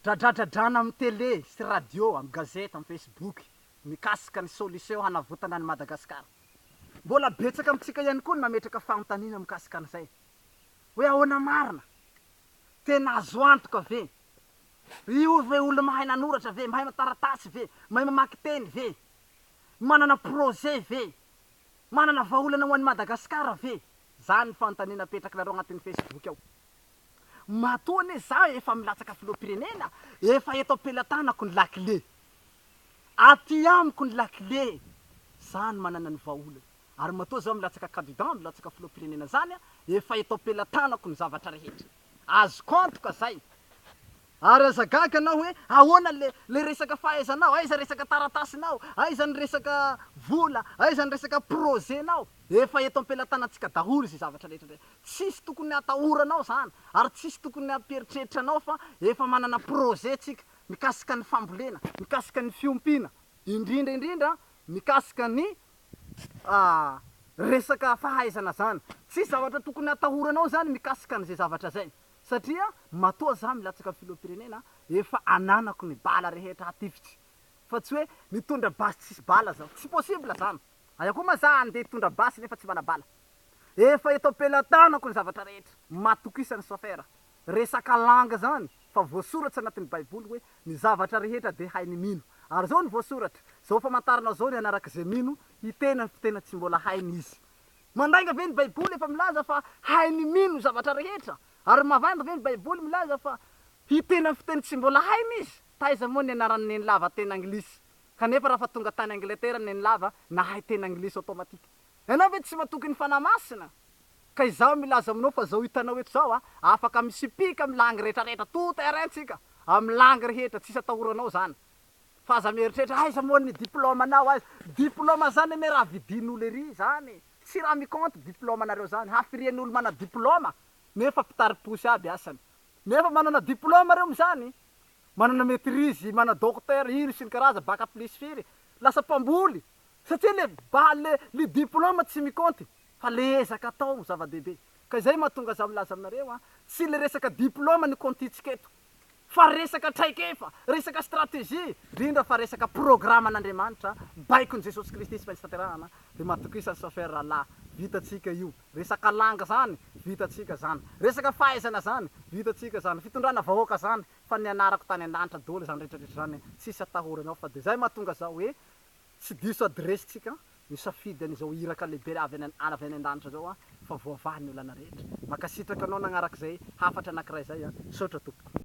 Dradradradrana amin'ny tele sy radio, amin'ny gazety, amin'ny facebook mikasika ny solution hanavotana an'i Madagasikara. Mbola betsaka amintsika ihany koa ny mametraka fanontaniana mikasika an'izay. Hoe ahoana marina? Tena azo antoka ve? Io ve olona mahay nanoratra ve? Mahay taratasy ve? Mahay mamaky teny ve? Manana projet ve? Manana vahaolana ho an'i Madagasikara ve? Izany ny fanontaniana apetrak'nareo agnatin'ny facebook ao. Matoa anie za efa milatsaka filoham-pirenena efa eto am-pelatanako ny lakile. Aty amiko ny lakile, za no manana ny vahaolana. Ary matoa za milatsaka kandida, milatsaka filoham-pirenena zany, efa eto am-pelatanako ny zavatra rehetra. Azoko antoka zay. Ary aza gaga anao hoe ahoana le le resaka fahaizanao, aiza resaka taratasinao, aiza ny resaka vola, aiza ny resaka projet nao, efa eto ampelatanantsika daholo izay zavatra rehetra ndray, tsisy tokony hatahoranao zany ary tsisy tokony hampieritreritra anao fa efa manana projet tsika mikasika ny fambolena, mikasika ny fiompiana, indrindra indrindra mikasika ny resaka fahaizana zany, tsisy zavatra tokony hatahoranao zany mikasika an'izay zavatra zay. satria matoa za milatsaka filoham-pirenena efa ananako ny bala rehetra hatifitry fa tsy hoe mitondra basy tsisy bala zaho, tsy possible zany, aia koa ma za handeha hitondra basy nefa tsy mana bala, efa eto am-pelatanako ny zavatra rehetra, matokisan'ny chauffeur, resaka langue zany fa voasoratra anatin'ny baiboly hoe ny zavatra rehetra dia hain'ny mino, ary zao ny voasoratra, zao famantarana zao ny hanaraka izay mino hiteny amin'ny fiteny tsy mbola hainy izy, Mandainga ve ny Baiboly efa milaza fa hainy mino zavatra rehetra? Ary mavanga ve ny Baiboly milaza fa hiteny amin'ny fiteny tsy mbola hainy izy? Taiza moa ny anaran'i Nenilava teny anglisy? Kanefa raha fa tonga tany Angletera Nenilava, nahay teny anglisy automatique. Ianao ve tsy matoky ny Fanahy Masina? Ka izaho milaza aminao fa izao hitanao eto izao aho, afaka misipika amin'ny langue rehetra rehetra, tout terrain tsika, amin'ny langue rehetra, tsisy atahoranao izany. Fa aza mieritreritra aiza moa ny diploma nao aiza. Diploma zany anie raha vidin'olo ery zany. Tsy raha mi compte diploma nareo zany. Hafirian'olo mana diploma nefa mpitari-posy aby asany. Nefa manana diploma reo mizany. Manana maitrise, mana docteur, ino sy ny karaza, bac plus firy. Lasa mpamboly. Satria le ba le le diploma tsy mi compte. Fa le ezaka atao no zava-dehibe. Ka izay mahatonga za milaza aminareo an. Tsy le resaka diploma no comptitsika eto. fa resaka traikefa, resaka stratégie, indrindra fa resaka programan'Andriamanitra baikon'i Jesosy Kristy tsy maintsy tanterahana ry matokisa Soffer Rahalahy, vitantsika io, resaka langa zany vitantsika zany, resaka fahaizana zany vitantsika zany, fitondrana vahoaka zany fa nianarako tany an-danitra doly zany retraretra zany tsisy atahoranao fa de zay mahatonga za hoe tsy diso adiresy tsika misafidy an'izao iraka lehibe avy any avy any an-danitra zao an fa voavaha ny olana rehetra, mankasitraka anao nagnaraka zay hafatra anakiray zay an, misaotra tompoko.